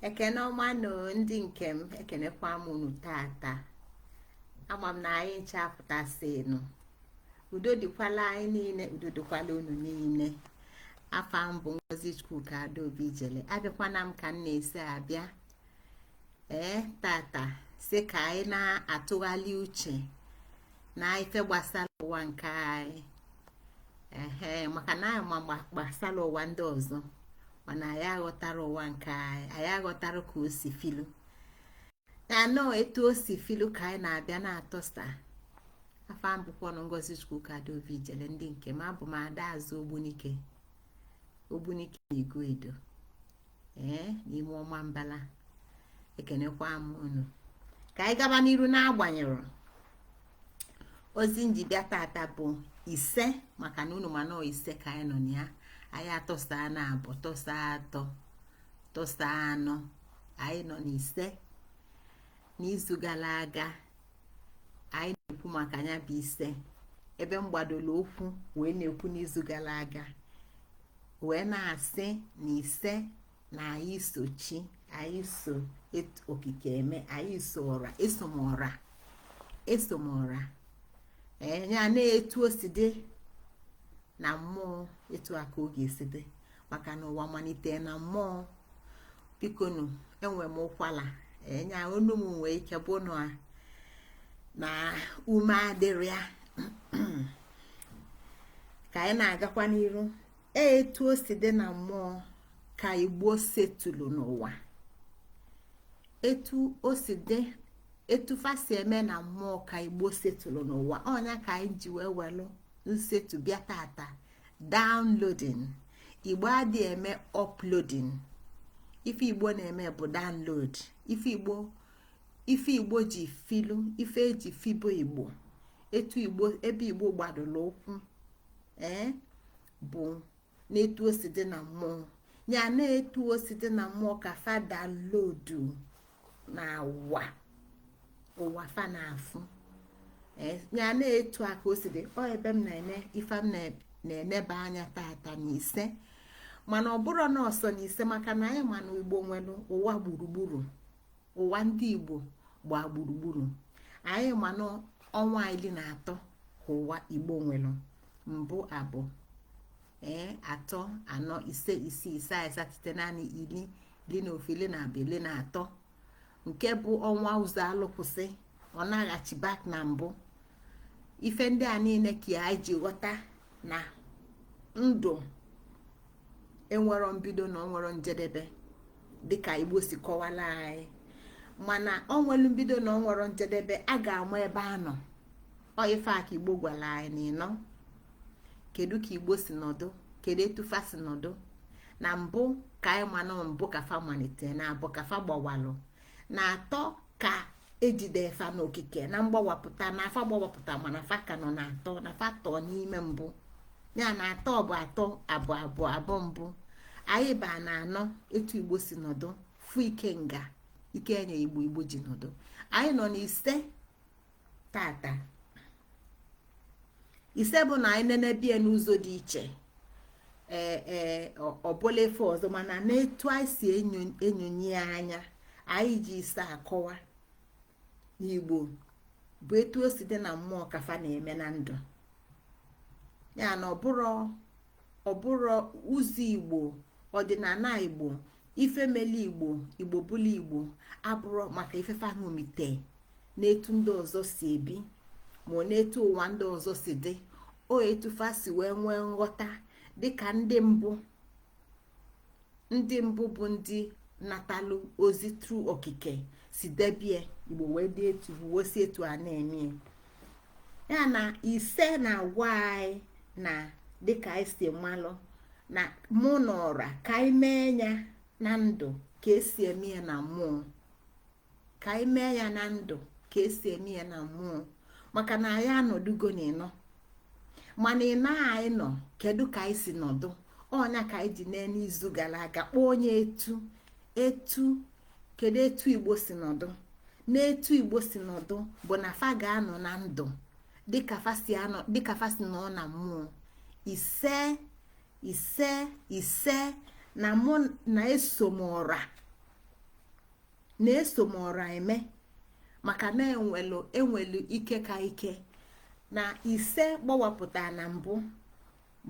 ekene ọma nụ ndị nke m ekenekwa m unu tata ama m na anyị ncha apụtasịnụ udo dịkwala anyị niile udo dịkwala unu niile afa m bụ ngozi chukwuka adaobi ijele abịakwana m ka m na-esi abịa ee tata sị ka anyị na-atụgharị uche na ife gbasara ụwa nke anyị ehe maka na anyị ma gbasara ụwa ndị ọzọ mana anyị aghọtara ụwa nke anyị anyị aghọtara ka o si filu anọ etu o si filu ka anyị na-abịa na-atọsa afa m bụkwanụ ngozi chukwuka adaobi ijele ndị nke m abụ m ada azụ ogbunike ogbunike na iguedo ee n'ime ọmambala ekenekwa m unu ka anyị gaba n'iru n'agbanyeghị ozi m ji bịa tata bụ ise maka na unu ma na ise ka anyị nọ na ya anyị atọsana abụọ tọsa atọ tọsa anọ anyị nọ n'ise n'izu gara aga anyị na-ekwu maka nya bụ ise ebe m gbadoro ụkwụ wee na-ekwu n'izu gara aga wee na-asị na ise na anyị so chi anyị so okike eme anyị so ọra esomọra esomọra ee nya na etu o si dị na mmụọ etu a ka ọ ga-esi dị maka na ụwa malite na mmụọ bikonu enwe m ụkwala nya onu m nwee ike bụ na ume adịrọ ya ka anyị na-agakwa n'iru e, etu o si dị na mmụọ ka igbo setụlụ n'ụwa etu o si dị etu fa si eme na mmụọ ka igbo setụlụ n'ụwa ọ nya ka anyị ji wee welụ nsetụ bịa tata downloading igbo adị eme uploading ife igbo na-eme bụ download ife igbo ife igbo ji filu ife e ji fibe igbo etu igbo ebe igbo gbadoro ụkwụ ee eh, bụ n'etu o si dị na mmụọ nya na etu o si dị na mmụọ ka fa downloadu na ụwa ụwa fa na-afụ eh, ya na etu a ka o si dị ọ ebe m na-ene ife m na-eneba anya tata na ise mana ọ bụrọ na ọ sọ na ise maka na anyị ma na igbo nwere ụwa gburugburu ụwa ndị igbo gbaa gburugburu anyị ma na ọnwa iri na atọ ka ụwa igbo nwere mbụ abụọ ee atọ anọ ise isii isaa isatọ itenaanị iri ili n'ofu ili na abụ ili na atọ nke bụ ọnwa ụzọ alụkwụsị ọ naghachi back na mbụ ife ndị a niile ka anyị ji ghọta na ndụ enwero mbido na o nwero njedebe dịka igbo si kọwala anyị mana o nwelu mbido na o nwero njedebe a ga-ama ebe a nọ ọ ife a ka igbo gwara anyị na ịnọ kedu ka igbo si nọdụ kedu etu fa si nọdụ na mbụ ka anyị ma na mbụ ka fa malite na abụ ka fa gbawalụ na atọ ka e jide fa n'okike na mgbawapụta na fa gbawapụta mana fa ka nọ na atọ na fa tọ n'ime mbụ ya na atọ bụ atọ abụ abụ abụ mbụ anyị ba na anọ etu igbo si nọdụ fụ ikenga ike e nye igbo igbo ji nọdụ anyị nọ n'ise tata ise bụ na anyị nenebe ya n'ụzọ dị iche ee e, ọ bụlụ ife ọzọ mana n'etu anyị si enyonye anya anyị ji ise akọwa na igbo bụ etu o si dị na mmụọ ka fa na-eme na ndụ ya na ọ bụrụ ọ bụrụ ụzọ igbo ọdịnala igbo ife mele igbo igbo bụlụ igbo abụrọ maka ife fa ṅomite n'etu ndị ọzọ si ebi ma n'etu ụwa ndị ọzọ si dị ọ etu fa si wee nwee nghọta dịka ndị mbụ ndị mbụ bụ ndị natalụ ozi through okike si debie igbo wee dị etu wee si etu a na-eme ya na ise na-agwa anyị na dịka anyị si malụ na mụ na ọra ka anyị mee ya na ndụ ka e si eme ya na mmụọ ka anyị mee ya na ndụ ka e si eme ya na mmụọ maka na anyị anọdugo na ịnọ mana ịnọ anyị nọ kedu ka anyị si nọdụ ọ nya ka anyị ji n'ime izu gara aga kpọọ nya etu etu kedu etu igbo si nọdụ n'etu igbo si nọdụ bụ na fa ga-anọ na ndụ dịka fa si nọ na mmụọ ise ise ise na mụ na-eso m ọra na-eso m ọra eme maka na e nwelu e nwelu ike ka ike na ise gbawapụta na mbụ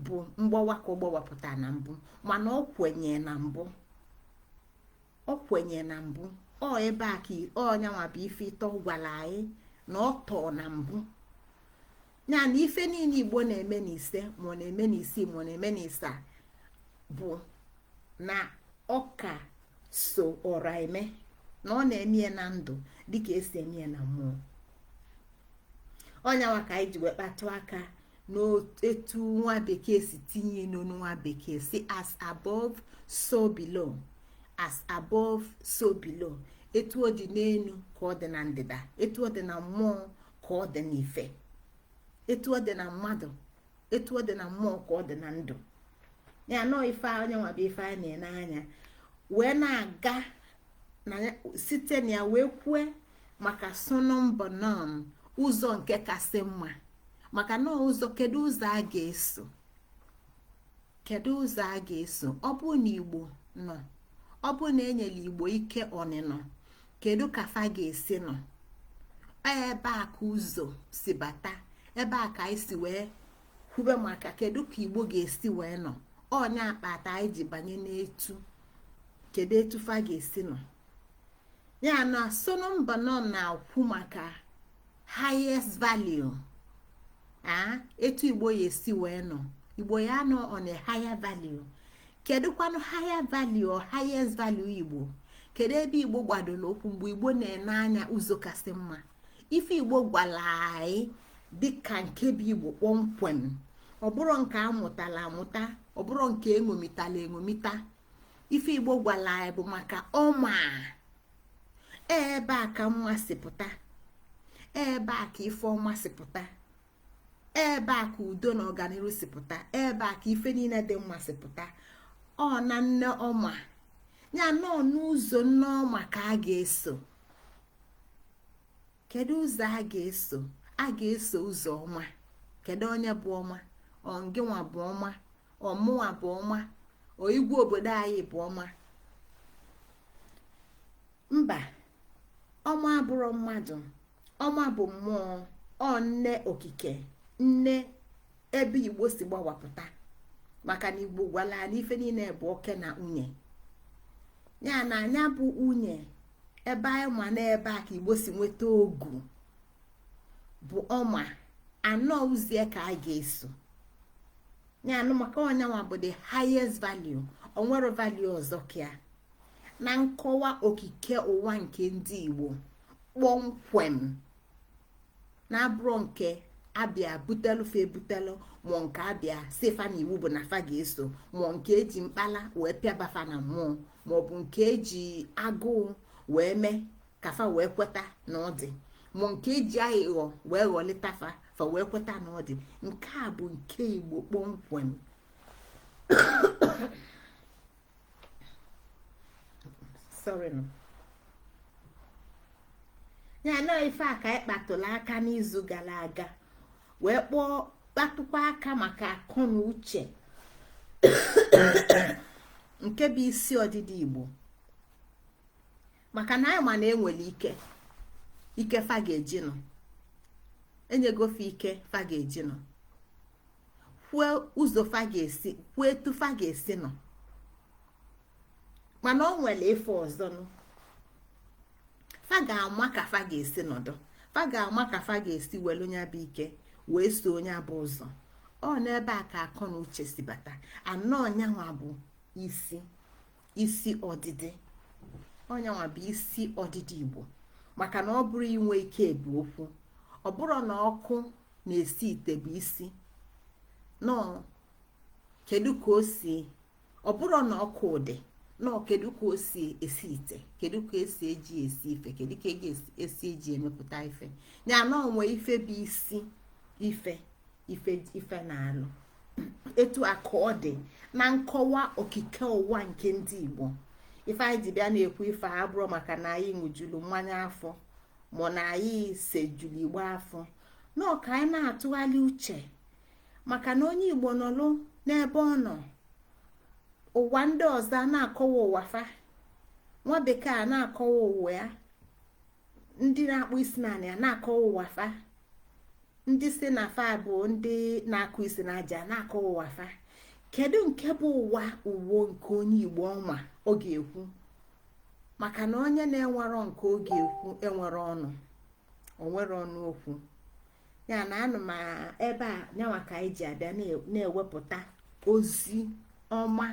bụ mgbawa ka ọ gbawapụta na mbụ mana ọ kwenye na mbụ ọ kwenye na mbụ ọ ebe a ka ọ nya nwa bụ ife ịtọ gwara anyị na ọ tọọ na mbụ ya na ife niile igbo na-eme n'ise ma ọ na-eme n'isii ma ọ na-eme n'isaa bụ na ọ ka so ọra eme na ọ na-eme ya na ndụ dịka esi eme ya na mmụọ ọ nyanwa ka anyị ji wee kpatụ aka n'etu nwa bekee si tinye n'ọnụ nwa bekee sị as above so below as above so below etu ọ dị n'elu ka ọ dị na ndịda etu ọ dị na mmụọ ka ọ dị n'ife etu ọ dị na mmadụ etu ọ dị na mmụọ ka ọ dị na ndụ ya na ọ ife ọ nyanwa bụ ife a na-ene anya wee na-aga site na ya wee kwue maka summum bonum ụzọ nke kasị mma maka na ụzọ kedu ụzọ a ga-eso kedu ụzọ a ga-eso ọ bụ na igbo nọ ọ bụ na enyela igbo ike ọnịnọ kedu ka fa ga-esi nọ ebe a ka ụzọ si bata ebe a ka anyị si wee kwube maka kedu ka igbo ga-esi wee nọ ọ nya kpata anyị ji banye n'etu kedu etu fa ga-esi nọ ya na summum bonum na-akwu maka highest value etu igbo ya esi wee nọ igbo ya nọ on a higher value kedụkwanụ higher value or highest value igbo kedu ebe igbo gbadoro ụkwụ mgbe igbo na-ene anya ụzọ kasị mma ife igbo gwara anyị dịka nke bụ igbo kpọmkwem ọ bụrọ nke amụtala amụta ọ bụrọ nke eṅomitala eṅomita ife igbo gwara anyị bụ maka ọma ebe a ka mma si pụta ebe a ka ife ọma si pụta ebe a ka udo na ọganiru si pụta ebe a ka ife niile dị mma si pụta ọ na nne ọma ya na ọ n'ụzọ nne ọma ka a ga-eso kedu ụzọ a ga-eso a ga-eso ụzọ ọma kedu onye bụ ọma ọ ngịnwa bụ ọma ọ mụwa bụ ọma ọ igwe obodo anyị bụ ọma mba ọma abụrọ mmadụ ọma bụ mmụọ ọ nne okike nne ebe igbo si gbawapụta maka na igbo gwala na ife niile bụ oke na nwunye ya na anya bụ nwunye ebe anyị ma n'ebe a ka igbo si nweta okwu bụ ọma na ọ ụzọ ya ka a ga-eso ya na ọ maka ọ nyanwa bụ the highest value o nwere value ọzọ ka na nkọwa okike ụwa nke ndị Igbo kpọmkwem na-abụrọ nke abịa butelu fa ebutelu ma ọ nke abịa sị fa na iwu bụ na fa ga-eso ma ọ nke eji mkpala wee pịaba fa na mmụọ maọbụ nke eji agụụ wee mee ka fa wee kweta na ọ dị ma nke eji aghụghọ wee ghọlịta fa fa wee kweta na ọ dị nke a bụ nke igbo kpọmkwem sorry no ya na ife a ka anyị kpatụrụ aka n'izu gara aga wee kpọọ kpatụkwa aka maka akọ na uche nke bụ isi ọdịdị igbo maka na anyị ma na enwere ike ike fa ga-eji nọ enyego fa ike fa ga-eji nọ kwue ụzọ fa ga-esi kwue etu fa ga-esi nọ mana o nwere ife ọzọ nụ fa ga-ama ka fa ga-esi nọdụ fa ga-ama ka fa ga-esi welu nya bụ ike wee so nya bụ ụzọ ọ n'ebe a ka akọ na uche si bata na ọ nyanwa bụ isi isi ọdịdị ọ nyanwa bụ isi ọdịdị igbo maka na ọ bụrọ inwe ike bụ okwu ọ bụrọ na ọkụ na-esi ite bụ isi na ọ kedu ka o si ọ bụrọ na ọkụ dị na ọ kedu ka o si esi ite kedu ka esi eji esi ife kedu ka eji esi eji emepụta ife ya na o nwe ife bụ isi ife ife ife na-alụ etu a ka ọ dị na nkọwa okike ụwa nke ndị Igbo ife anyị ji bịa na-ekwu ife a bụrọ maka na anyị ṅụjulu mmanya afọ ma na anyị sejulu igbo afọ na ọ ka anyị na-atụgharị uche maka na onye Igbo nọlụ n'ebe ọ nọ ụwa ndị ọzọ a na-akọwa ụwa fa nwa bekee a na-akọwa ụwa ya ndị na-akpọ isi n'anị a na-akọwa ụwa fa ndị si na fa bụ ndị na-akụ isi n'aja na-akọwa ụwa fa kedu nke bụ ụwa uwo nke onye igbo nwa ọ ga-ekwu maka na onye na-enwerọ nke ọ ga-ekwu enwerọ ọnụ o nwerọ ọnụ okwu ya na anụ m ebe a nyanwa ka anyị ji abịa na-ewepụta ozi ọma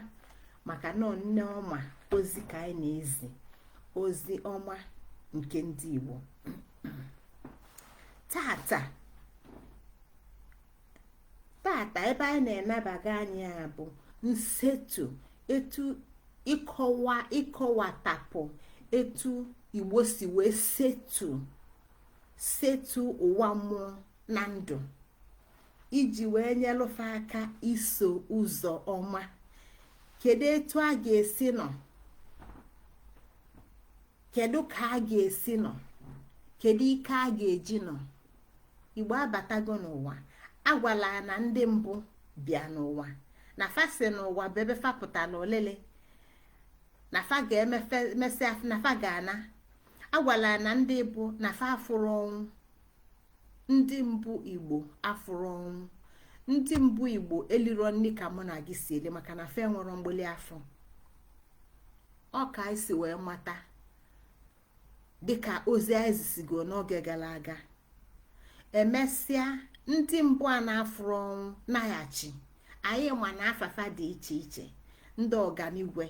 maka na ọ nne ọma ozi ka anyị na-ezi ozi ọma nke ndị Igbo tata tata ebe anyị na-enebaga anya bụ nsetu etu ịkọwa ịkọwatapụ etu igbo si wee setu setu ụwa mmụọ na ndụ iji wee nyelụ fa aka iso ụzọ ọma kedu etu a ga-esi nọ kedu ka a ga-esi nọ kedu ike a ga-eji nọ igbo abatago n'ụwa agwala na ndị mbụ bịa n'ụwa na fa sị na ụwa bụ ebe fa pụtara olili na fa ga-emesịa na fa ga-ana agwala na ndị mbụ na fa afụrọ ọnwụ ndị mbụ igbo afụrọ ọnwụ ndị mbụ igbo eliro nni ka mụ na gị si eli maka na fa enwero mgbịlị afọ ọ ka anyị si wee mata dịka ozi anyị zisigo n'oge gala aga emesịa ndị mbụ a na-afụrọ ọnwụ naghachi anyị ma na afa fa dị iche iche ndị ọganigwe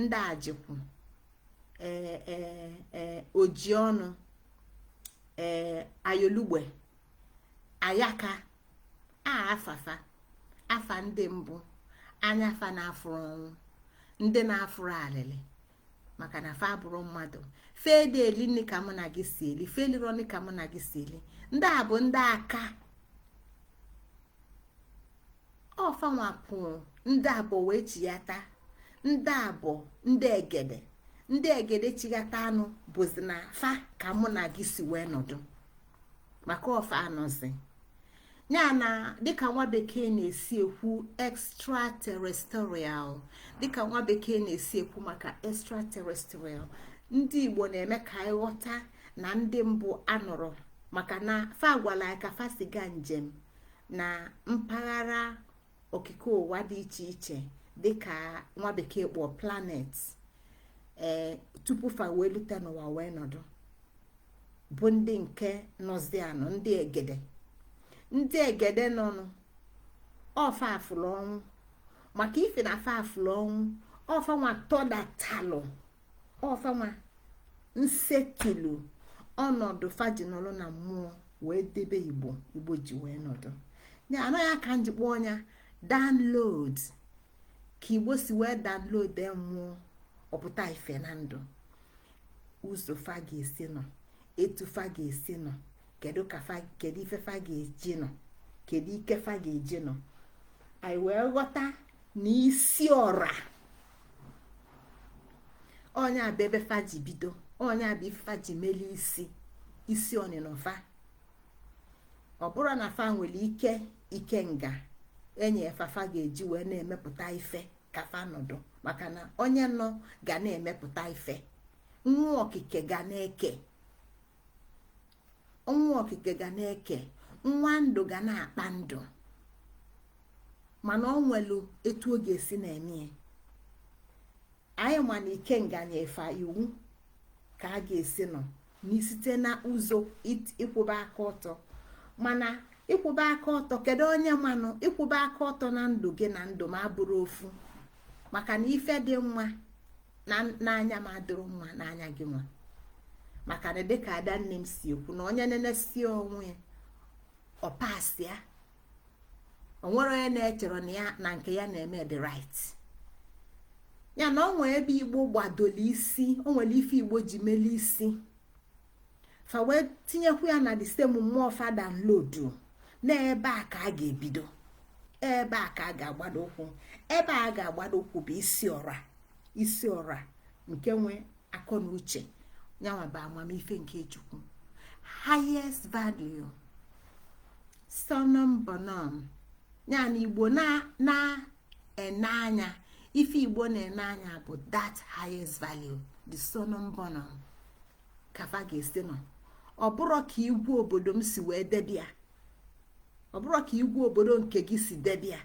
ndị ajikwu ee ee ee oji ọnụ ee ayolugbe ayaka a afa fa afa ndị mbụ anya fa na-afụrọ ọnwụ ndị na-afụrọ alịlị maka na fa abụrọ mmadụ fa adị eli nni ka mụ na gị si eli fa elirọ nni ka mụ na gị si eli ndị a bụ ndị aka ọ fa nwa pụọ ndị abụọ wee chighata ndị abụọ ndị egede ndị egede chighata anụ bụzi na fa ka mụ na gị si wee nọdụ maka ọ fa nọzi ya na dịka nwa bekee na-esi ekwu extraterrestrial dịka nwa bekee na-esi ekwu maka extraterrestrial ndị igbo na-eme ka anyị ghọta na ndị mbụ anọrọ maka na fa gwara ka fa si ga njem na mpaghara okike ụwa dị iche iche dịka nwa bekee kpọọ planet ee eh, tupu fa wee lute n'ụwa wee nọdụ bụ ndị nke nọzi anọ ndị egede ndị egede nọnụ ọ fa fụlụ ọnwụ maka ife na fa fụlụ ọnwụ ọ fa nwa tọdatalụ ọ fa nwa nsetulu ọnọdụ fa ji nọlụ na mmụọ wee debe igbo igbo ji wee nọdụ anọ ya ka m ji kpọọ nya download ka igbo si wee download e mmụọ ọ pụta ife na ndụ ụzọ fa ga-esi nọ etu fa ga-esi nọ kedu ka fa kedu ife fa ga-eji nọ kedu ike fa ga-eji nọ anyị wee ghọta na isi ọra ọ nya bụ ebe fa ji bido ọ nya bụ ife e ji meli isi isi ọnịnọ fa ọ bụrụ na fa nwelu ike ike nga-enye fa fa ga-eji wee na-emepụta ife ka fa nọdụ maka na onye nọ ga na-emepụta ife nwa okike ga na-eke nwa okike ga na-eke nwa ndụ ga na-akpa ndụ mana ọ nwelu etu ọ ga-esi na-eme anyị ma na ike nga-enye fa iwu ka a ga-esi nọ na isite na ụzọ ịkwụba aka ọtọ mana ịkwụba aka ọtọ kedu onye manụ ịkwụba aka ọtọ na ndụ gị na ndụ m abụrọ ofu maka na ife dị mma n'anya m adịrọ mma n'anya gị nwa maka na dịka ada nne m si ekwu na onye nenesie onwe ya ọ pasịa o nwerọ onye na-echerọ na ya na nke ya na-eme dị right ya na o nwe ebe igbo gbadolu isi o nwere ife igbo ji melu isi fa wee tinyekwu ya na the same mmụọ fa download na ebe a ka a ga-ebido ebe a ka a ga-agbado ụkwụ ebe a ga-agbado ụkwụ bụ isi ọra isi ọra nke nwe akọ na uche nya nwa bụ amamife nke chukwu highest value summum bonum ya na igbo na-ene anya ife igbo na-ene anya bụ that highest value the summum bonum ka fa ga-esi nọ ọ bụrọ ka iwu obodo m si wee debe ya ọ bụrọ ka iwu obodo nke gị si debe ya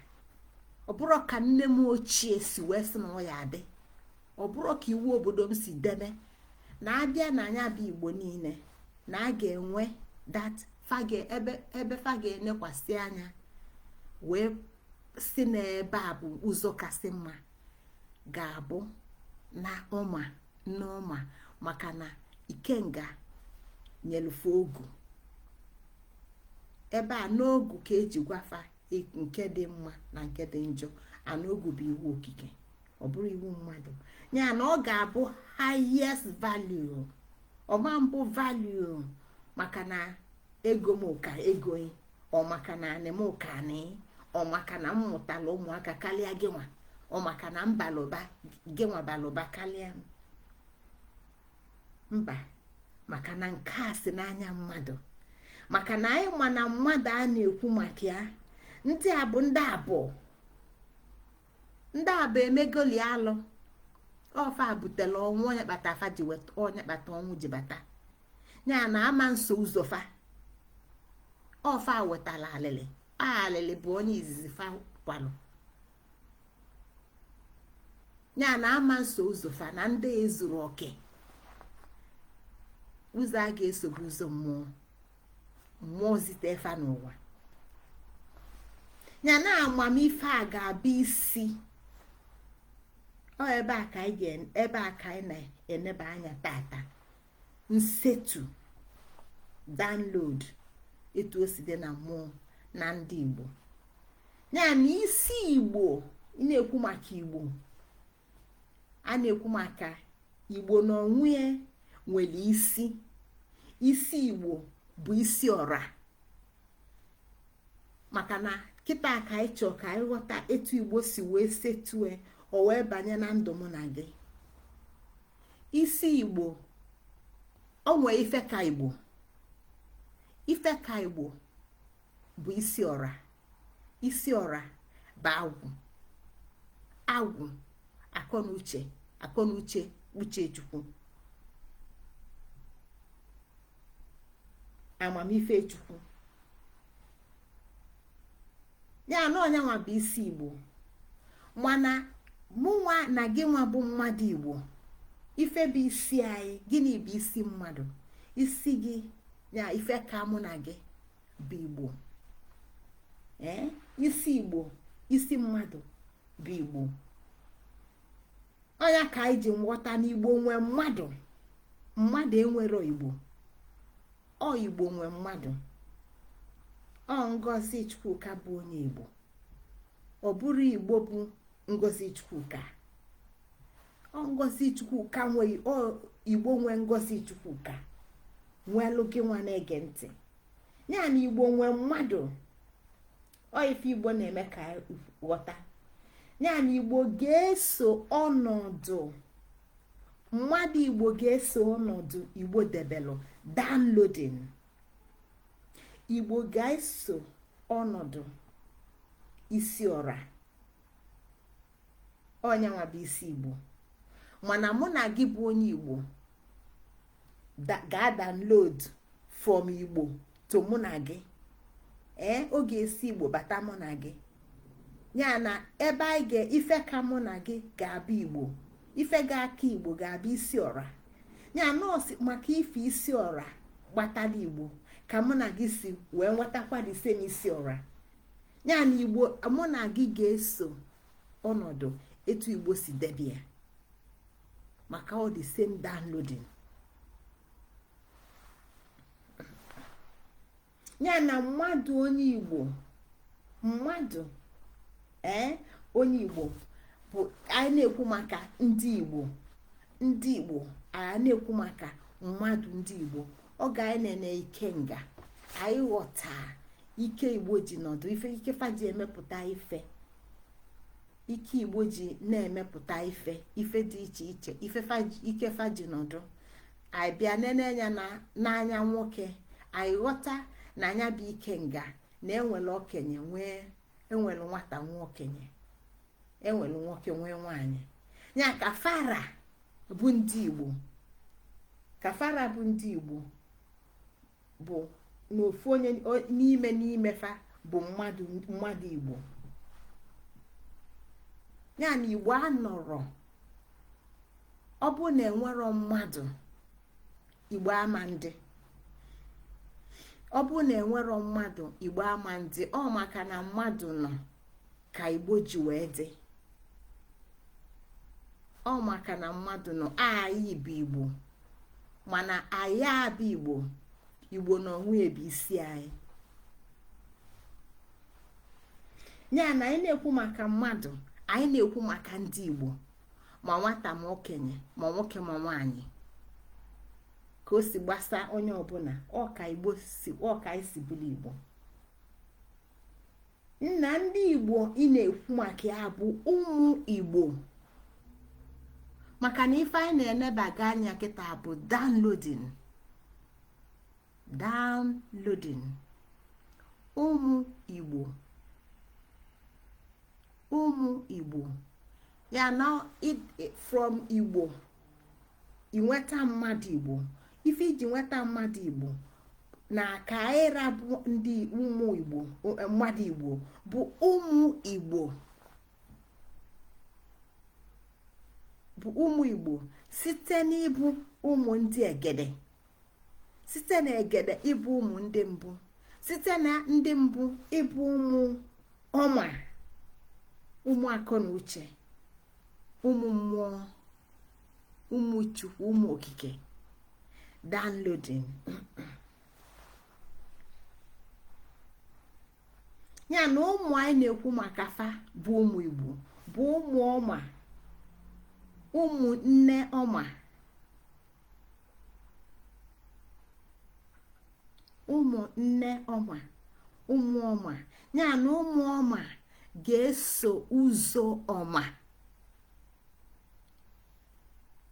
ọ bụrọ ka nne m ochie si wee sị na ọ ya adị ọ bụrọ ka iwu obodo m si debe na a bịa na nya bụ igbo niile na a ga-enwe that ebe fa ga-enekwasị anya wee sị na ebe a bụ ụzọ kasị mma ga-abụ na ọma n'ọma maka na ikenga nyelu fa ogu ebe a n'ogu ka e ji gwa fa nke dị mma na nke dị njọ ana ogu bụ iwu okike ọ bụrọ iwu mmadụ ya na ọ ga-abụ highest value ọ ma mbụ value maka na ego m ka ego ọ maka na anị m ka anị ọ maka na m mụtala ụmụaka karịa gị nwa ọ maka na m balụ ụba gị nwa balụ ụba karịa m mba maka na nke a si n'anya mmadụ maka na anyị ma na mmadụ a na-ekwu maka ya ndị a bụ ndị abụọ ndị abụọ emegoli alụ ọ fa butela ọnwụ onye kpata afa ji weta onye kpata ọnwụ ji bata ya na a ma nso ụzọ fa ọ fa wetala alịlị alịlị bụ onye izizi fa kwalụ ya na a ma nso ụzọ fa na ndị ezurọ oke ụzọ a ga-eso bụ ụzọ mmụọ mmụọ zite fa n'ụwa ya na amamife a ga-abụ isi ọ ebe a ka anyị ebe a ka anyị na-eneba anya tata nsetu download etu o si dị na mmụọ na ndị Igbo ya na isi Igbo ị na-ekwu maka Igbo a na-ekwu maka igbo n'onwe ya nwere isi isi igbo bụ isi ọra maka na kịta ka anyị chọọ ka anyị ghọta etu igbo si wee setue o wee banye na ndụ mụ na gị isi igbo o nwee ife ka igbo ife ka igbo bụ isi ọra isi ọra bụ agwụ agwụ akọnuche akọnuche uche chukwu amamife chukwu ya na ọ nyanwa bụ isi igbo mana mụnwa na gị nwa bụ mmadụ igbo ife bụ isi anyị gịnị bụ isi mmadụ isi gị ya ife ka mụ na gị bụ igbo ee isi igbo isi mmadụ bụ igbo ọ ya ka anyị ji nghọta na igbo nwe mmadụ mmadụ enwero igbo ọ igbo nwe mmadụ ọ ngozi chukwuka bụ onye igbo ọ bụrọ igbo bụ ngozi chukwuka ngozi chukwuka nwe igbo nwe ngozi chukwuka nwelu gị nwa na-ege ntị ya na igbo nwe mmadụ ọ ife igbo na-eme ka ghọta ya na igbo ga-eso ọnọdụ mmadụ igbo ga-eso ọnọdụ igbo debelu downloading igbo ga-eso ọnọdụ isi ọra ọ nyanwa bụ isi igbo mana mụ na gị bụ onye igbo ga-adownload from igbo to mụ na gị ee eh, ọ ga-esi igbo bata mụ na gị ya na ebe anyị ga ife ka mụ na gị ga-abụ igbo ife ga-aka igbo ga-abụ isi ọra ya na ọ sọ maka ife isi ọra gbatala igbo ka mụ na gị si wee nwetakwa the same isi ọra ya na igbo mụ na gị ga-eso ọnọdụ etu igbo si debe ya maka ọ the same downloading ya na mmadụ onye igbo mmadụ ee eh, onye igbo bụ anyị na-ekwu maka ndị igbo ndị igbo anyị na-ekwu maka mmadụ ndị igbo ọ ga anyị na-ene ikenga anyị ghọta ike igbo ji nọdụ ife ike fa ji emepụta ife ike igbo ji na-emepụta ife ife dị iche iche ife ike fa ji nọdụ anyị bịa nene anya n'anya nwoke anyị ghọta na anya bụ ikenga na enwere okenye nwee enwere nwata nwee okenye enwere nwoke nwee nwanyị ya ka fa ra bụ ndị igbo ka fa ra bụ ndị igbo bụ na ofu onye n'ime n'ime fa bụ mmadụ igbo ya na igbo anọrọ ọ bụ na enwerọ mmadụ igbo ama adị ọ bụ na enwerọ mmadụ igbo ama adị ọ maka na mmadụ nọ ka igbo ji wee dị ọ maka na mmadụ nọ anyị bụ igbo mana anyị abụ igbo igbo na onwe ya bụ isi anyị ya na anyị na-ekwu maka mmadụ anyị na-ekwu maka ndị igbo ma nwata ma okenye ma nwoke ma nwaanyị ka o si gbasa onye ọbụla ọ ka igbo si ọ ka anyị si bụrụ igbo ya na ndị igbo ị na-ekwu maka ya bụ ụmụ igbo maka na ife anyị na-enebaga anya kịta bụ downloading downloading ụmụ igbo ụmụ igbo ya na from igbo inweta mmadụ igbo ife i ji nweta mmadụ igbo na ka anyị ra bụ ndị ụmụ igbo eh, mmadụ igbo bụ ụmụ igbo bụ ụmụ igbo site n'ịbụ ụmụ ndị egede site na egede ịbụ ụmụ ndị mbụ site na ndị mbụ ịbụ ụmụ ọma ụmụ akọ na uche ụmụ mmụọ ụmụ chukwu ụmụ okike downloading ya na ụmụ anyị na-ekwu maka fa bụ ụmụ igbo bụ ụmụ ọma ụmụ nne ọma ụmụ nne ọma ụmụ ọma ya na ụmụ ọma ga-eso ụzọ ọma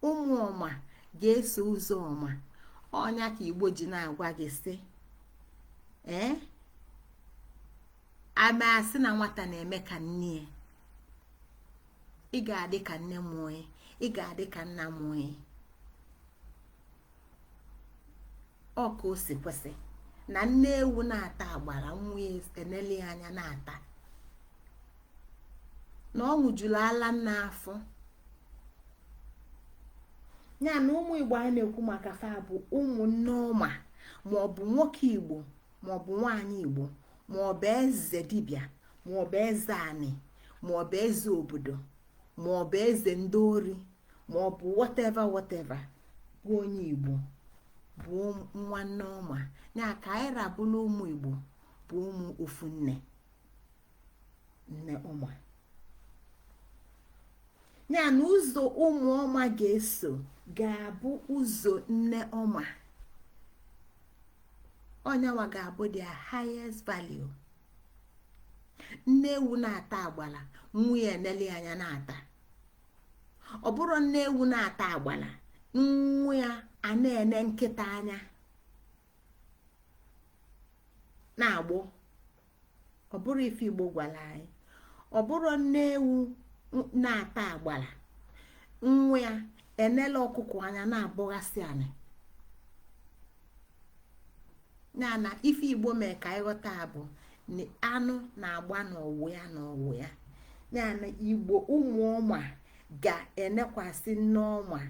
ụmụ ọma ga-eso ụzọ ọma ọ nya ka igbo ji na-agwa gị sị ee ama asị na nwata na-eme ka nne ya ị ga-adị ka nne mụọ ị ga-adị ka nna mụọ ọ ka o si kwesị na nne ewu na-ata agbara nwa ya eneli anya na-ata na ọ ṅụjuru ala nne afọ ya na ụmụ igbo anyị na-ekwu maka fa bụ ụmụ nneọma maọbụ nwoke igbo maọbụ nwaanyị igbo maọbụ eze dibịa maọbụ eze anị maọbụ eze obodo maọbụ eze ndị ori ma ọ bụ whatever whatever bụ onye igbo bụ nwa nneọma ya ka anyị rabụla ụmụ igbo bụ ụmụ ofu nne nne ọma ya na ụzọ ụmụ ọma ga-eso ga-abụ ụzọ nne ọma ọ nya nwa ga-abụ their highest value nne ewu na-ata agbala nwa nya enele anya na-ata ọ bụrọ nne ewu na-ata agbala nwa ya a na-ene nkịta anya na-agbọ ọ bụrọ ife igbo gwalụ anyị ọ bụrọ nne ewu na-ata agbala nwa ya enela ọkụkọ anya na-abọghasị anị ya na ife igbo mee ka anyị ghọta bụ na anụ na-agba n'ọwụ ya n'ọwụ ya ya na igbo ụmụ ọma ga-enekwasị nneọma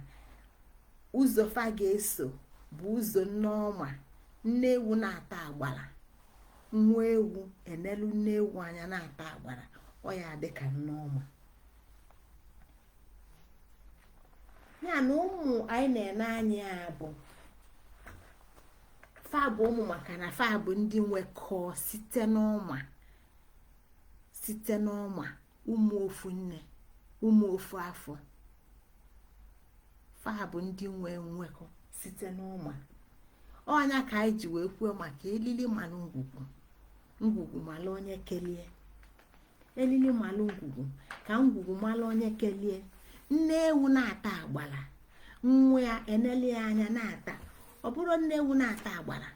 ụzọ fa ga-eso bụ ụzọ nneọma nne ewu na-ata agbara nwa ewu enelu nne ewu anya na-ata agbara ọ ya dị ka nneọma ya na ụmụ anyị na-ene anya ya bụ fa bụ ụmụ maka na fa bụ ndị nwekọọ site n'ọma site n'ọma ụmụ ofu nne ụmụ ofu afọ fa bụ ndị nwe nwekọ site n'ọma ọ nya ka anyị ji wee kwuo maka elili malụ ngwugwu ngwugwu malụ onye kelie elili malụ ngwugwu ka ngwugwu malụ onye kelie nne ewu na-ata agbala nwa ya eneli ya anya na-ata ọ bụrọ nne ewu na-ata agbala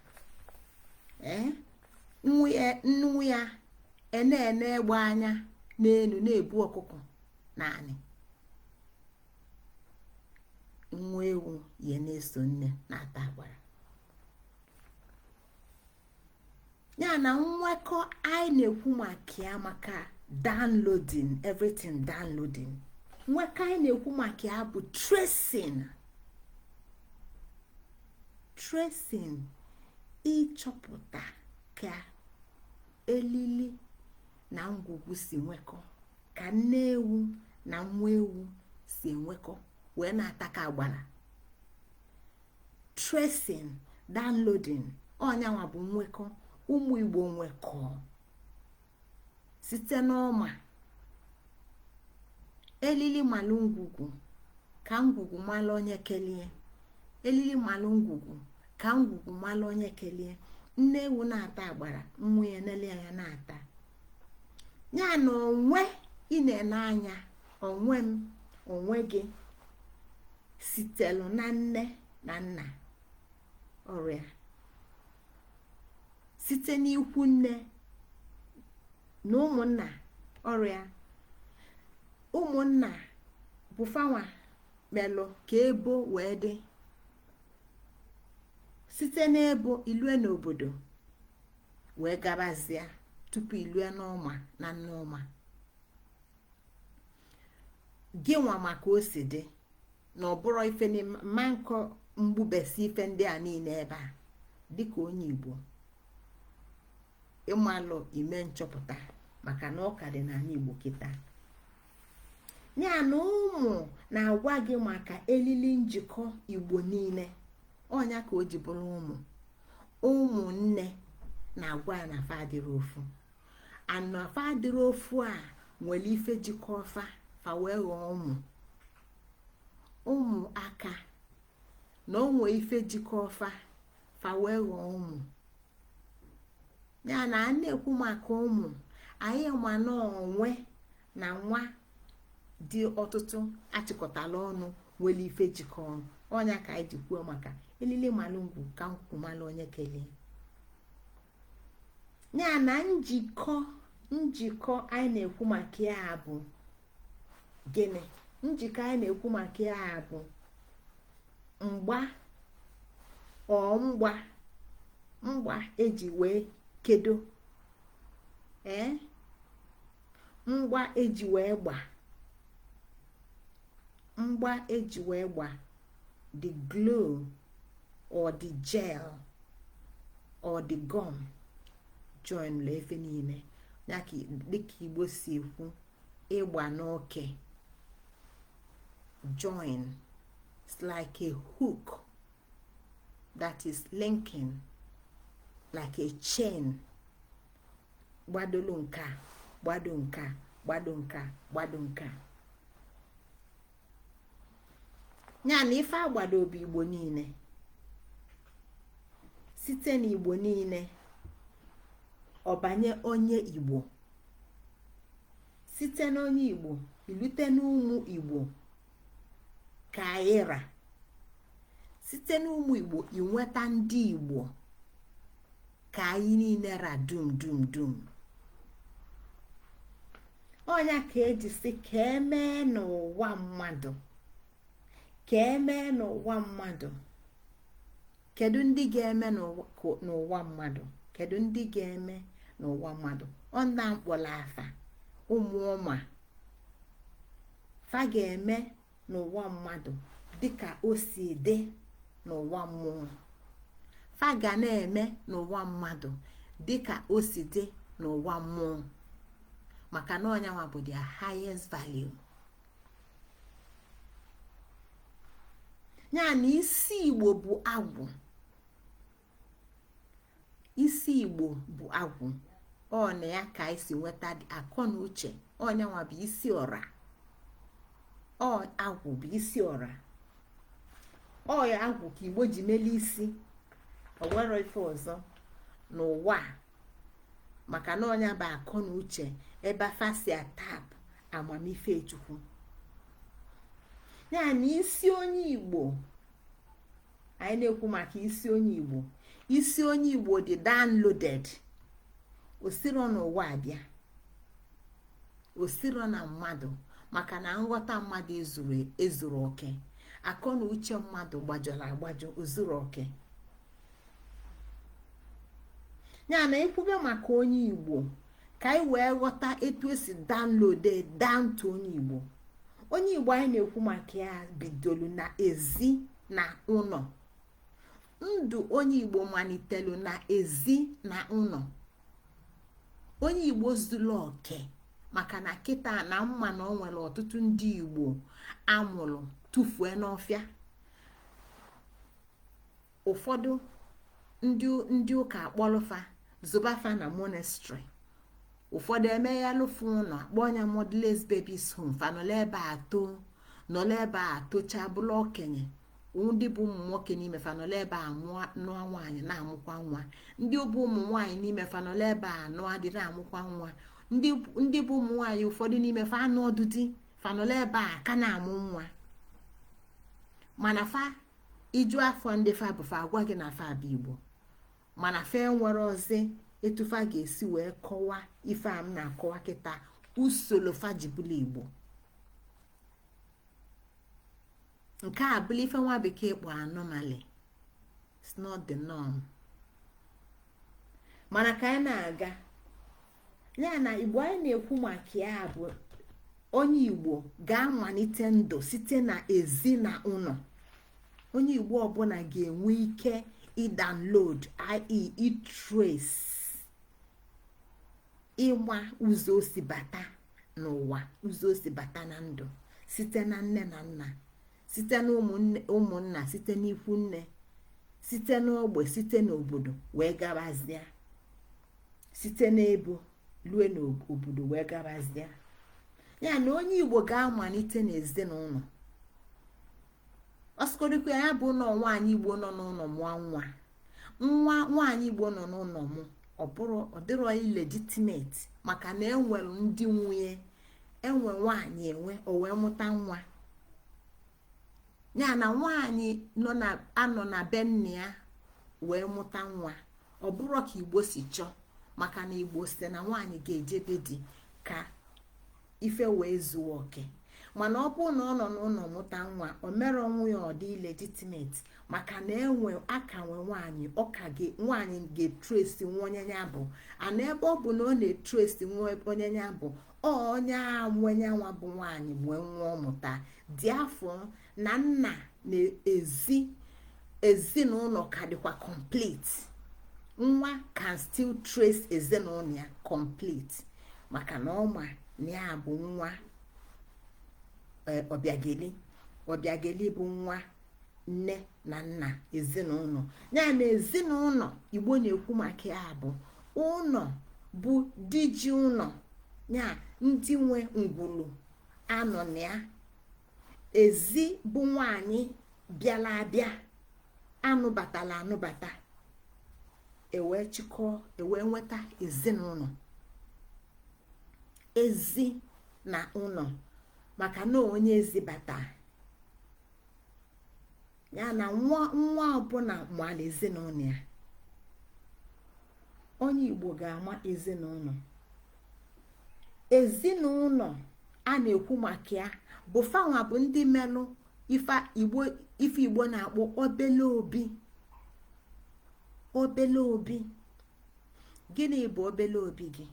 ee nwa ya a na-ene egbe anya n'elu na-ebu ọkụkọ naanị nwa ewu ya na-eso nne na-ata agbara ya na nwekọ anyị na-ekwu maka ya maka downloading everything downloading nwekọ anyị na-ekwu maka ya bụ tracing tracing ịchọpụta ka elili na ngwugwu si nwekọ ka nne ewu na nwa ewu si enwekọ wee na-atakọ agbara tracing downloading ọ nya nwa bụ nwekọ ụmụ igbo nwekọ site n'ọma elili malụ ngwugwu ka ngwugwu malụ onye kelie elili malụ ngwugwu ka ngwugwu malụ onye kelie nne ewu na-ata agbara nwa ya nele ya na-ata ya na onwe ị na-ene anya onwe m onwe gị sitelu na nne na nna ọra site n'ikwu nne na ụmụnna ọra ụmụnna bụ fa nwa melụ ka ebo wee dị site n'ebo ilue n'obodo wee gabazia tupu ilue n'ọma na nneọma gị nwa ma ka o si dị na ọ bụrụ ife mma nkọ mgbubesi ife ndị a niine ebe a dịka onye igbo ịmalụ ime nchọpụta maka na ọ ka dị n'anị igbo kịta ya na ụmụ na-agwa gị maka elili njikọ igbo niile ọ nya ka o ji bụrụ ụmụ ụmụnne na-agwa ya na fa adịrị ofu ana fa adịrị ofu e nwelu ife jikọ fa fa wee ghọọ ụmụ ọ maka na o nwee ife jikọ fa fa wee ghọọ ụmụ ya na a na-ekwu maka ụmụ anyị ma na onwe na nwa dị ọtụtụ a chịkọtala ọnụ nwelu ife jikọ ọnụ ọ nya ka anyị ji kwuo maka elili malụ ngwugwu ka ngwugwu malụ onye kelie ya na njikọ njikọ anyị na-ekwu maka ya bụ gịnị njikọ anyị na-ekwu maka ya bụ mgba ọ mgba mgba eji wee kedo ee mgba eji wee gba mgba eji wee gba the glue or the gel or the gum join la ife niine ya ka dịka igbo si ekwu ịgba n'oke join it's like a hook that is linking like a chain gbadolu nke a gbado nke a gbado nke a gbado nke a ya na ife agbado obi igbo niile site na igbo niile ọ banye onye igbo site n'onye igbo i lute n'ụmụ igbo ka anyị ra site n'ụmụ igbo i nweta ndị igbo ka anyị niile ra dum dum dum ọ nya ka e ji si ka e mee n'ụwa mmadụ ka e mee n'ụwa mmadụ kedu ndị ga-eme n'ụwa mmadụ kedu ndị ga-eme n'ụwa mmadụ ọ ndị a m kpọrọ afa ụmụ ọma fa ga-eme n'ụwa mmadụ dịka o si dị n'ụwa mmụọ fa ga na-eme n'ụwa mmadụ dịka o si dị n'ụwa mmụọ maka na ọ nyanwa bụ their highest value ya na isi igbo bụ agwụ isi igbo bụ agwụ ọ na ya ka anyị si nweta akọ na uche ọ nyanwa bụ isi ọra ọ agwụ bụ isi ọra ọ ya agwụ ka igbo ji mele isi o nwero ife ọzọ n'ụwa maka na ọ nya bụ akọ na uche ebe afa si atap amamife chukwu ya na isi onye igbo anyị na-ekwu maka isi onye igbo isi onye igbo dị downloaded o siro n'ụwa abịa o siro na mmadụ maka na nghọta mmadụ ezuro oke akọ na uche mmadụ gbajọrọ agbajọ o zuro oke ya na i kwube maka onye igbo ka anyị wee ghọta etu e si download down to onye igbo onye igbo anyị na-ekwu maka ya bidolu na ezi na ụlọ ndụ onye igbo malitelu na ezi na ụlọ onye igbo zuru oke maka na kịta na m ma na o nwere ọtụtụ ndị igbo a mụrụ tụfue n'ọfịa ụfọdụ ndị ụka akpọlụ fa zoba fa na monastery ụfọdụ emeghịalụfụ ụlọ akpọọ nya motherless babies home fa nọla ebe a too nọla ebe a tochaa bụlụ okenye ndị bụ ụmụ nwoke n'ime fa nọla ebe a mụọ nụọ nwaanyị na-amụkwa nwa ndị bụ ụmụ nwaanyị n'ime fa nọla ebe a nụọ di na-amụkwa nwa ndị bụ ụmụ nwaanyị ụfọdụ n'ime fa anụrọdụ di fa nọla ebe a ka na-amụ nwa mana fa ị jụọ fa ndị fa bụ fa agwa gị na fa bụ igbo mana fa enwerọzi etu fa ga-esi wee kọwa ife a m na-akọwa kịta usoro fa ji bụla igbo nke a bụla ife nwa bekee kpọrọ anomaly it's not the norm mana ka anyị na-aga ya na igbo anyị na-ekwu maka ya bụ onye igbo ga-amalite ndụ site na ezi na ụlọ onye igbo ọbụla ga-enwe ike ịdownload ie ịtrace ịma ụzọ o si bata n'ụwa ụzọ o si bata na ndụ site na nne na nna site na ụmụnna site n'ikwu nne site n'ogbe site n'obodo wee gabazia site n'ebo lue n'obodo wee gabazie ya na onye igbo ga-amalite n'ezinụlọ ọ sọgodikwa ya bụ na nwaanyị igbo nọ n'ụlọ mụọ nwa nwa nwaanyị igbo nọ n'ụlọ mụ ọ bụrọ ọ dịrọ illegitimate maka na e nwere ndị nwe ya enwe nwaanyị enwe o wee mụta nwa ya na nwaanyị anọ na be nna ya wee mụta nwa ọ bụrọ ka igbo si chọọ maka na igbo sị na nwaanyị ga-ejebe di ka ife wee zuo oke mana ọ bụrụ na ọ nọ n'ụlọ mụta nwa o merọ nwa ya ọ dị illegitimate maka na enwe aka nwe nwaanyị ọka gị nwaanyị ga-etrace nwa onye ya bụ ana ebe ọ bụ na ọ na-etrace nwa onye ya bụ onye nwe yanwa bụ nwaanyị nwe nwa ọ mụta therefore na nna na ezi ezinụlọ ka dịkwa complete nwa can still trace ezinụlọ ya complete maka na ọ ma na ya bụ nwa e, ọbịageli ọbịageli bụ nwa nne na nna ezinụlọ ya na ezinụlọ igbo na-ekwu maka ya bụ ụlọ bụ di ji ụlọ ya ndị nwe ngwulu a nọ na ya ezi bụ nwaanyị bịala abịa a nụbatala anụbata e wee chịkọọ e wee nweta ezinụlọ ezi na ụlọ maka na onye ezi bata ya na nwa nwa ọbụla mala ezinụlọ ya onye igbo ga-ama ezinụlọ ezinụlọ a na-ekwu maka ya bụ fanwa bụ ndị melụ ife igbo na-akpọ obele obi obele obi gịnị bụ obele obi gị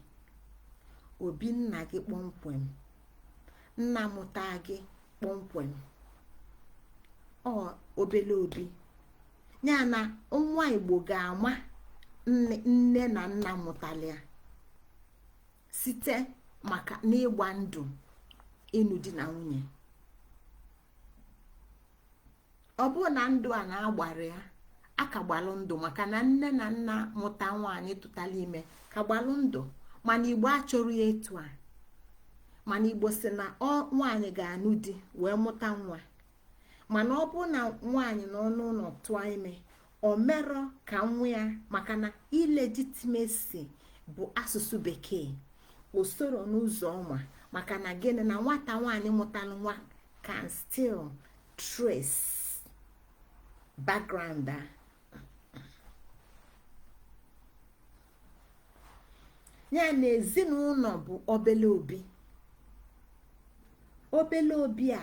obi nna gị kpọmkwem nna mụta gị kpọmkwem ọ obele obi ya na nwa igbo ga-ama nne na nna mụtara ya site maka n'ịgba ndụ ịnụ di na nwunye ọ bụrụ na ndụ a na-agbara ya a ka gbalụ ndụ maka na nne na nna mụta nwaanyị tụtara ime ka gbalụ ndụ mana igbo achọrọ ya etu a mana igbo sị na nwaanyị ga-anụ di wee mụta nwa mana ọ bụrụ na nwaanyị nọ n'ụlọ tụọ ime o merọ ka nwa ya maka na illegitimacy bụ asụsụ bekee o sorọ n'ụzọ ọma maka na gịnị na nwata nwaanyị mụtara nwa can still trace background a ya na ezinụlọ bụ obele obi obele obi a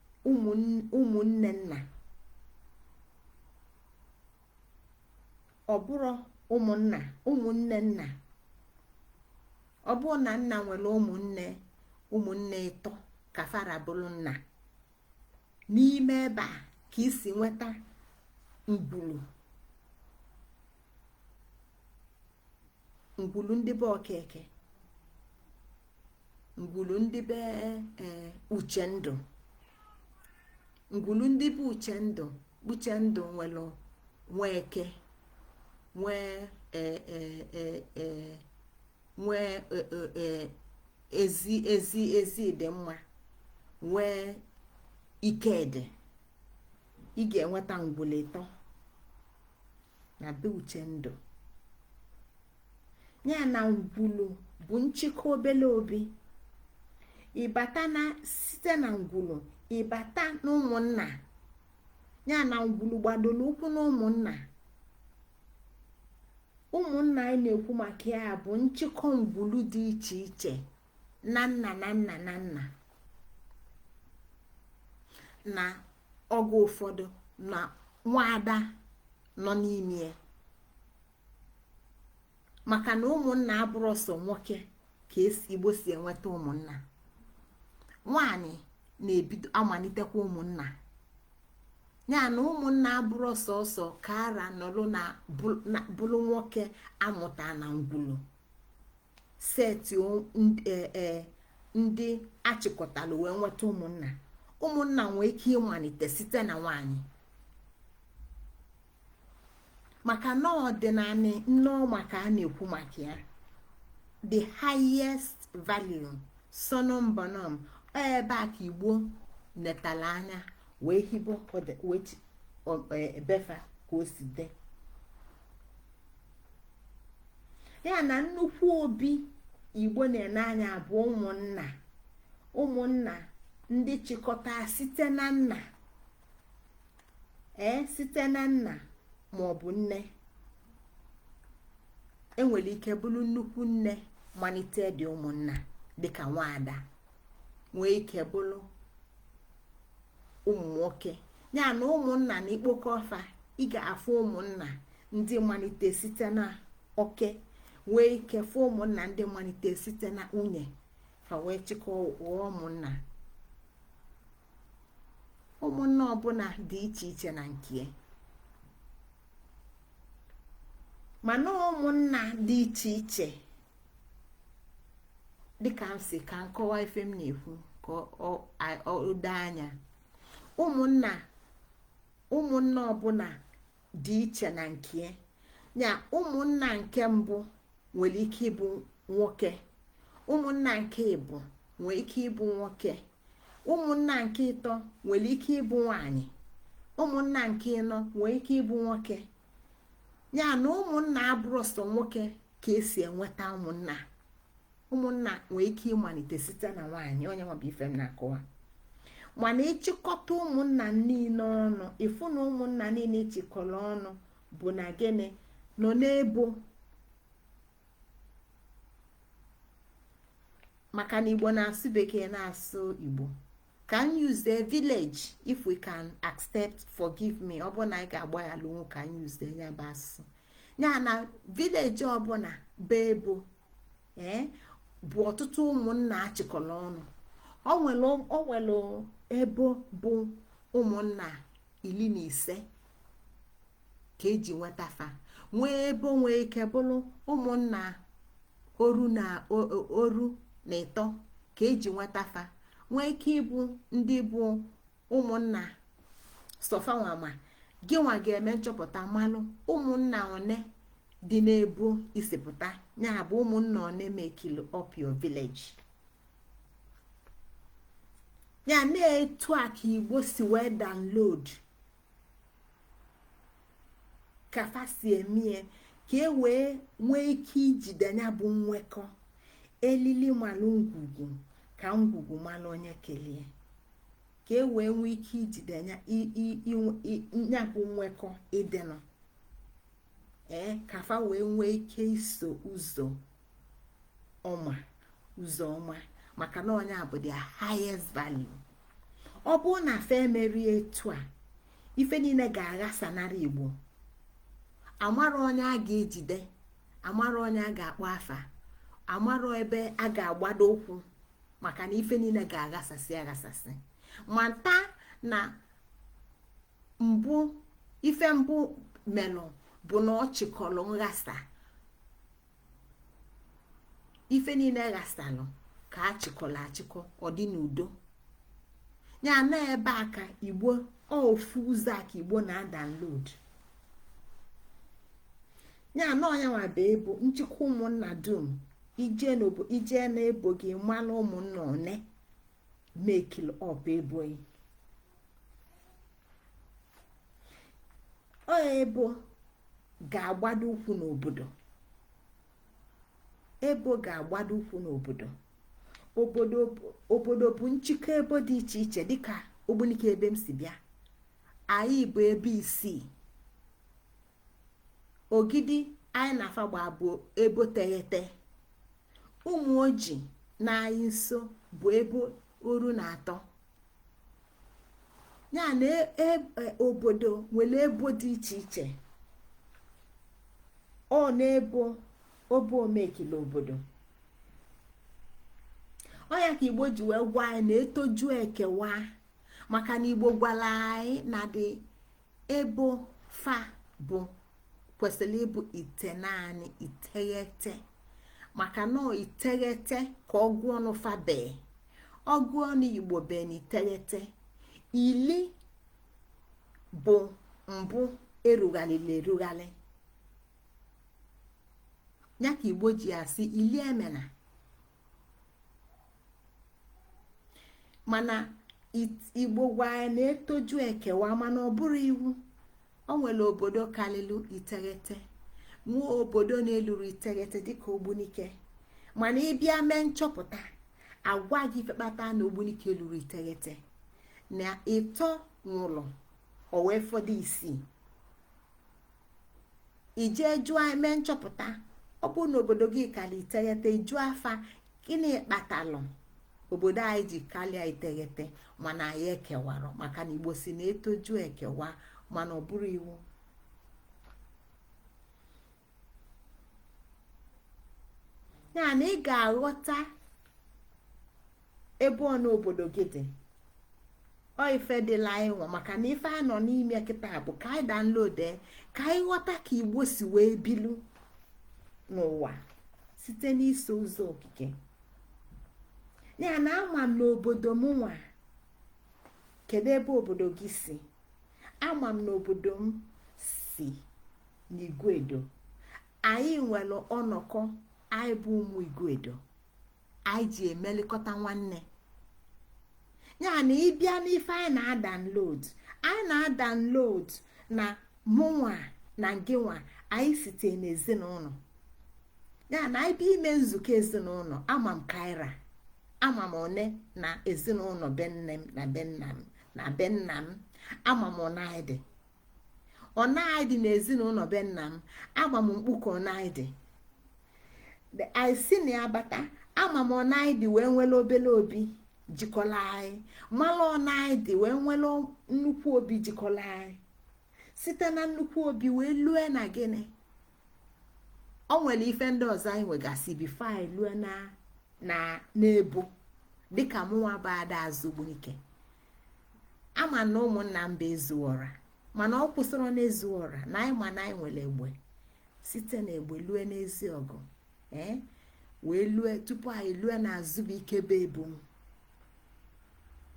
ụmụnne nna ọ bụrụ ụmụnna ụmụnne nna ọ bụrụ na nna nwere ụmụnne ụmụnne ịtọ ka fa ra bụrụ nna n'ime ebe a ka i si nweta ngwulu ngwulu ndị be okeke ngwulu ndị be e, uchendụ ngwulu ndị be uchendụ uchendụ nwere nweke nwee e, e, nwee ezi ezi ezidịmma nwee ikedi ị ga-enweta ngwulu ịtọ na be uchendụ ya na ngwulu bụ nchịkọ obele obi ị bata na site na ngwulu ị bata na ụmụnna ya na ngwulu gbadoro ụkwụ na ụmụnna ụmụnna anyị na-ekwu maka ya bụ nchịkọ ngwulu dị iche iche na nna na nna na nna na oge ụfọdụ na nwaada nọ n'ime ya maka na ụmụnna abụrọ sọ nwoke ka e si igbo si enweta ụmụnna nwaanyị na-ebido amalitekwa ụmụnna ya na ụmụnna abụrọ sọọsọ ka a ra nọrọ na bụrụ nwoke a mụta na ngwulu seti e, e, ndị achịkọtala wee nweta ụmụnna ụmụnna nwee ike ịmalite site na nwanyị maka na ọdịnala nne ọma ka a na-ekwu maka ya the highest value summum bonum ebe a ka igbo netala anya wee hibe e, be fa ka o si dị ya na nnukwu obi igbo na-ene anya bụ ụmụnna ụmụnna ndị chịkọta site na nna ee site na nna ma ọ bụ nne enwere ike bụrụ nnukwu nne malite ndị ụmụnna dịka nwaada nwee ike bụrụ ụmụ nwoke ya na ụmụnna na i kpokọọ fa ị ga-afụ ụmụnna ndị malite site na oke nwee ike fụ ụmụnna ndị malite site na nwunye fa wee chịkọọ ghọọ ụmụnna ụmụnna ọbụla dị iche iche na nke mana ụmụnna dị iche iche dịka m sị ka m kọwaa ife m na-ekwu ka o doo anya ụmụnna ụmụnna ọbụla dị iche na nke ya ụmụnna nke mbụ nwere ike ịbụ nwoke ụmụnna nke ịbụ nwee ike ịbụ nwoke ụmụnna nke ịtọ nwere ike ịbụ nwanyị ụmụnna nke ịnọ nwee ike ịbụ nwoke ya na ụmụnna abụrọ sọ nwoke ka esi enweta ụmụnna ụmụnna nwee ike ịmalite site na nwaanyị ọ yanwa bụ ife m na-akọwa mana ị chịkọta ụmụnna niile ọnụ ị fụ na ụmụnna niile achịkọrọ ọnụ bụ na gịnị nọ n'ebo maka na igbo na-asụ bekee na-asụ igbo ka anyị use the village if we can accept forgive me ọ bụ na anyị ga-agbaghalụ nwu ka anyị use the ya bụ asụsụ ya na village ọbụla bụ ebo ee eh, bụ ọtụtụ ụmụnna achịkọrọ ọnụ o nwere ebo bụ ụmụnna iri na ise ka eji nweta fa nwee ebo nwee ike bụrụ ụmụnna oru na oru na ịtọ ka eji nweta fa nwee ike ịbụ ndị bụ ụmụnna sọ fanwa ma gị nwa ga-eme nchọpụta malụ ụmụnna one dị n'ebo i si pụta ya bụ ụmụnna one mekili up your village ya na etu a ka igbo si wee download ka fa si emie ka e wee nwee ike ijide ya bụ nwekọ elili malụ ngwugwu ka ngwugwu malụ onye kelee ka e wee nwee ike ijide ya bụ nwekọ ịdịnụ ee ka fa wee nwee ike iso ụzọ ọma ụzọ ọma maka na onye a bụ the highest value ọ bụrụ na fa emerie etu a ife niile ga-aghasanara igbo amara onye a ga-ejide amara onye a ga-akpọ afa amara ebe a ga-agbado ụkwụ maka na ife niile ga-aghasasị aghasasị mata na mbụ ife mbụ melụ bụ na ọ chịkọlụ nghasa ife niile ghasalụ ka a chịkọlụ achịkọ ọ dị n'udo ya na ebe a ka igbo ofu ụzọ a ka igbo na-adownload ya na ọ nya nwa bụ ebo nchịkọ ụmụnna dum i jee n'ebo gị manụ ụmụnna one makelụ up ebo gị ọ ebo ga-agbado ụkwụ n'obodo ebo ga-agbado ụkwụ n'obodo obodo bụ nchịkọ ebo dị iche iche dịka ogbunike ebe m si bịa anyị bụ ebo isii ogidi anyị na fa gbaa bụ ebo teghete ụmụọjị nọ anyị nso bụ ebo oru na atọ ya na e, e, e, obodo nwere ebo dị iche iche ọ na ebo obo omekile obodo ọ ya ka igbo ji wee gwa anyị na etoju ekewa maka na igbo gwara anyị na dị ebo fa bụ kwesịrị ịbụ itenanị iteghete maka na iteghete ka ọgụ ọnụ fa bee ọgụ ọnụ igbo bee na iteghete ili bụ mbụ erugharịlụ erugharị ya ka igbo ji asị ili emena mana igbo gwa anyị na etoju ekewa mana ọ bụrọ iwu o nwere obodo kalịlụ iteghete nwee obodo na-elurọ iteghete dịka ogbunike mana ị bịa mee nchọpụta a gwa gị ife kpata na ogbunike elurọ iteghete na ịtọ nwụrụ o wee fọdụ isii ị jee jụọ mee nchọpụta ọ bụrụ na obodo gị kalị iteghete ị jụa fa gịnị kpatalụ obodo anyị ji kalịa iteghete mana anyị ekewarọ maka na igbo sị na etoju ekewa mana ọ bụrọ iwu ya na ị ga-aghọta ebe one obodo gị dị ọ ife dịla anyị nwa maka na ife a nọ n'ime kịta bụ ka anyị download ka anyị ghọta ka igbo si wee bilu n'ụwa site n'iso ụzọ okike ya na ama m na obodo mụnwa kedu ebe obodo gị si ama m na obodo m si n'iguedo anyị nwelụ ọnọkọ anyị bụ ụmụ iguedo anyị ji emelikọta nwanne ya na ị bịa n'ife anyị na-adownload anyị na-adownload na mụnwa na ngịnwa anyị site n'ezinụnọ ya na anyị bịa ime nzukọ ezinụnọ ama m ka anyị ra ama m one na ezinụnọ be nne m na be nna m na be nna m ama m one anyị dị one anyị dị n'ezinụnọ be nna m ama m mkpuke one anyị dị anyị si na ya bata ama m one anyị dị wee nwelụ obele obi jikọla anyị malụ one anyị dị wee nwelụ nnukwu obi jikọla anyị site na nnukwu obi wee lue na gịnị o nwelụ ife ndị ọzọ anyị nwegasị before anyị lue na na n'ebo dịka mụnwa bụ ada azụ ogbunike ama m na ụmụnna m bụ ezuọra mana ọ kwụsịrọ n'ezuọra na anyị ma na anyị nwere egbe site na egbe lue n'ezi ọgụ ee eh, wee lue tupu anyị lue na azụ ogbunike bụ ebo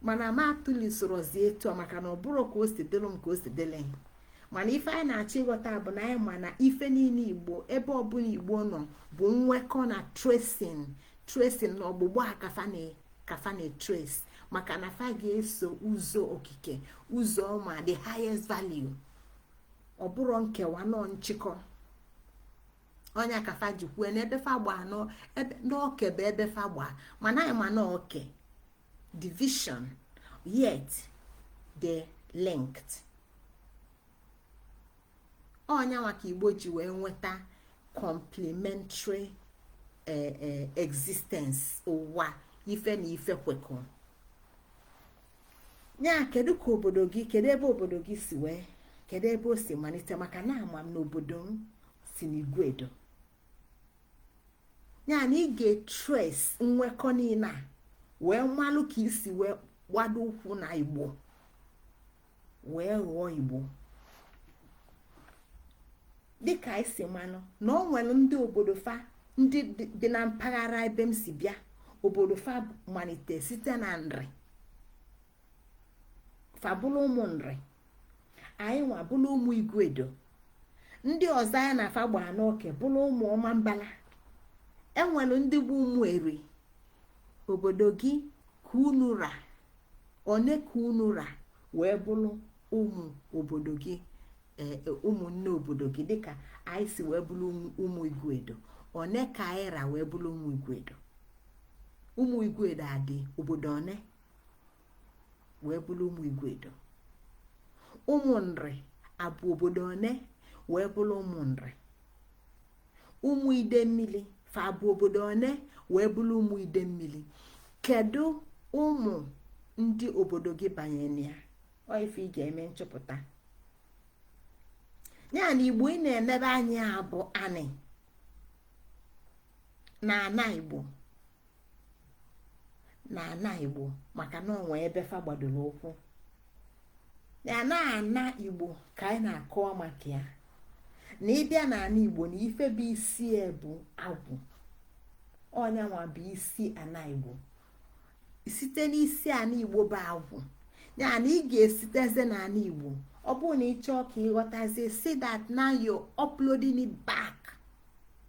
mana ma atụli sorozie etu a maka na ọ bụrọ ka o si dịlụ m ka o si dịlị mana ife anyị na-achọ ịghọta bụ na anyị ma na ife niile igbo ebe ọbụla igbo nọ bụ nwekọ na tracing tracing na ọgbụgba a ka fa na ka fa na-etrace maka na fa ga-eso ụzọ okike ụzọ ọma the highest value ọ bụrọ nkewa na ọ nchịkọ ọ nya ka fa ji kwue n'ebe fa gbaa n'oke bụ ebe fa gbaa mana anyị ma na oke division yet they linked ọ nyanwa ka igbo ji wee nweta complementary e, e, existence ụwa ife na ife kwekọ ya kedu ka obodo gị kedu ebe obodo gị si wee kedu ebe o si malite maka na ama m na obodo m si n'iguedo ya na ị ga-etrace nwekọ niile a wee malụ ka i si wee gbado ụkwụ na igbo wee ghọọ igbo dịka i si manụ na o nwere ndị obodo fa ndị dị na mpaghara ebe m si bịa obodo fa malite site na nri fa bụlụ ụmụ nri anyị nwa bụlụ ụmụ iguedo ndị ọzọ anyị na fa gbaa n'oke bụlụ ụmụ ọmambala enwere ndị bụ ụmụ eri obodo gị ka unu ra one ka unu ra wee bụrụ ụmụ obodo gị e, e, ụmụnne obodo gị dịka anyị si wee bụrụ ụmụ iguedo one ka anyị ra wee bụrụ ụmụ iguedo ụmụ iguedo adị obodo one wee bụrụ ụmụ iguedo ụmụ nri abụ obodo one wee bụrụ ụmụ nri ụmụ idemmili fa bụ obodo one wee bụrụ ụmụ idemmili kedu ụmụ ndị obodo gị banyere ya ọ ife ị ga-eme nchọpụta ya na igbo ị na-enebe anya bụ anị na ana igbo na ana igbo maka na o nwe ebe fa gbadoro ụkwụ na ana ana igbo ka anyị na-akọwa maka ya na ị bịa na ana igbo na ife bụ isi bụ agwụ ọ nya nwa bụ isi ana igbo site n'isi ana igbo bụ agwụ ya na ị ga-esiteze na ana igbo ọ bụrụ na ị chọọ ka ị ghọtazie see that now you're uploading it back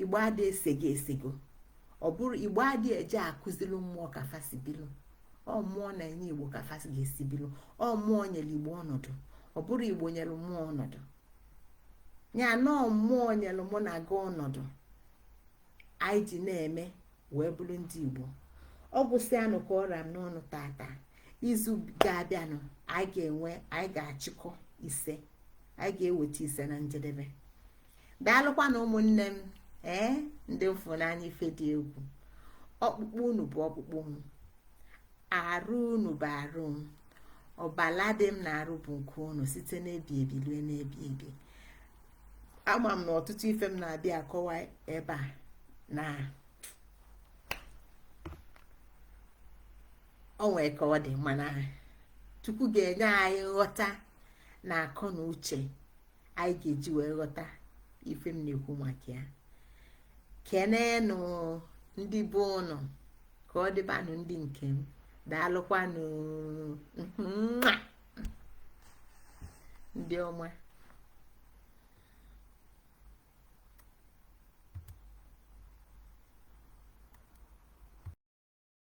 igbo adị esego esego ọ bụrọ igbo adị eje akụzilu mmụọ ka fa si bilu ọ mmụọ na-enye igbo ka fa si ga-esi bilu ọ mmụọ nyere igbo ọnọdụ ọ bụrọ igbo nyere mmụọ ọnọdụ ya na mmụọ nyere mụ na gị ọnọdụ anyị ji na-eme wee bụrụ ndị igbo ọ gwụsịanụ ka ọ ra m n'ọnụ tata izu ga-abịanụ anyị ga-enwe anyị ga-achịkọ ise anyị ga-eweta ise na njedebe daalụkwanụ ụmụnne m ee ndị m fụ n'anya ife dị egwu ọkpụkpụ unu bụ ọkpụkpụ m arụ unu bụ arụ m ọbala dị m n'arụ bụ nke unu site n'ebi ebi rue n'ebi ebi ama m na ọtụtụ ife m na-abịa akọwa ebe a na o nwe ka ọ dị mana chukwu ga-enye anyị nghọta na akọ na uche anyị ga-eji wee ghọta ife m na-ekwu maka ya kenenụ ndị be unu ka ọ dịbanụ ndị nke m daalụkwanụ ndị ọma